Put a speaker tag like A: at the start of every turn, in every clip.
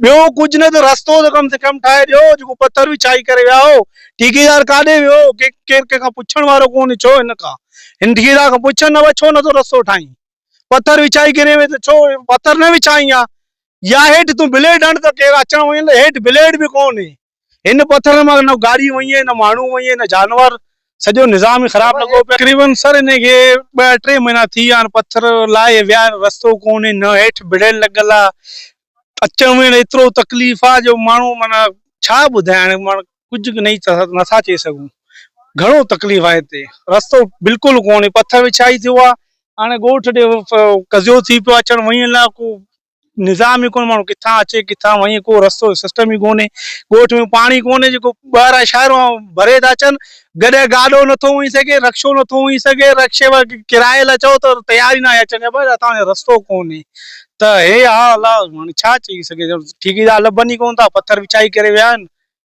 A: ٻيو ڪجهه نه ته رستو ته ڪم سي ڪم ٺاهي ڏيو، جيڪو پٿر وڇائي ڪري ويا هو، ٺيڪيدار ڪاڏي ويو هو، ڪي ڪير ڪنهن کان پڇڻ وارو ڪونهي، ڇو هن کان هن ٺيڪيدار کان پڇ نه وڇو نه ٿو رستو ٺاهين، پٿر وڇائي ڪري وين ته ڇو پٿر نه وڇائين ها، يا هيٺ تون بليڊ هڻ ته ڪير اچڻ وڃڻ لاء هيٺ بليڊ به ڪونهي، هن پٿرن مان نه گاڏي وڃي، نه ماڻهو وڃي، نه جانور، سڄو نظام ئي خراب لڳو پيو آهي. تقريبن سر هن کي ٻه ٽي مهينا ٿي ويا آهن، پٿر لاهي ويا آهن، رستو ڪونهي، نه هيٺ بڙيل لڳل آهي، اچڻ وڃڻ ايترو تڪليف آهي جو ماڻهو معنيٰ ڇا ٻڌايان، معنيٰ ڪجهه به نٿا چئي سگهون، گهڻو تڪليف آهي هتي، رستو بلڪل ڪونهي، پٿر وڇائي ٿيو آهي، هاڻي ڳوٺ ڏي قضيو ٿي پيو آهي، اچڻ وڃڻ لاء ڪو نظام ئي ڪونهي ماڻهو ڪٿان اچي ڪٿان وڃي ڪو رستو سسٽم ئي ڪونهي ڳوٺ ۾ پاڻي ڪونهي جيڪو ٻاهران شهرو ڀري ٿا اچن گڏهه گاڏو نٿو وڃي سگهي رڪشو نٿو وڃي سگهي رڪشي واري ڪرايي لاء چئو ته تيار ئي ناهي اچڻ لاء بس اتان جو رستو ڪونهي ته هي حال آ هاڻي ڇا چئي سگهجي ٺيڪيدار لڀن ئي ڪونه ٿا پٿر وڇائي ڪري ويا آهن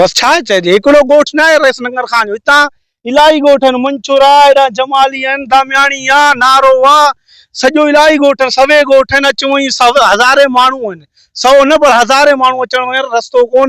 A: بس ڇا چئجي هڪڙو ڳوٺ ناهي رئيس ننگر خان جو هتان الاهي ڳوٺ آهن منڇورا هيڏانهن جمالي آهن دامياڻي آ نارو آ سڄو الاهي ڳوٺ آهن سوين ڳوٺ آهن اچ وڃ هزارين ماڻهو آهن سو نه پر هزارين ماڻهو اچڻ وڃڻ رستو ڪون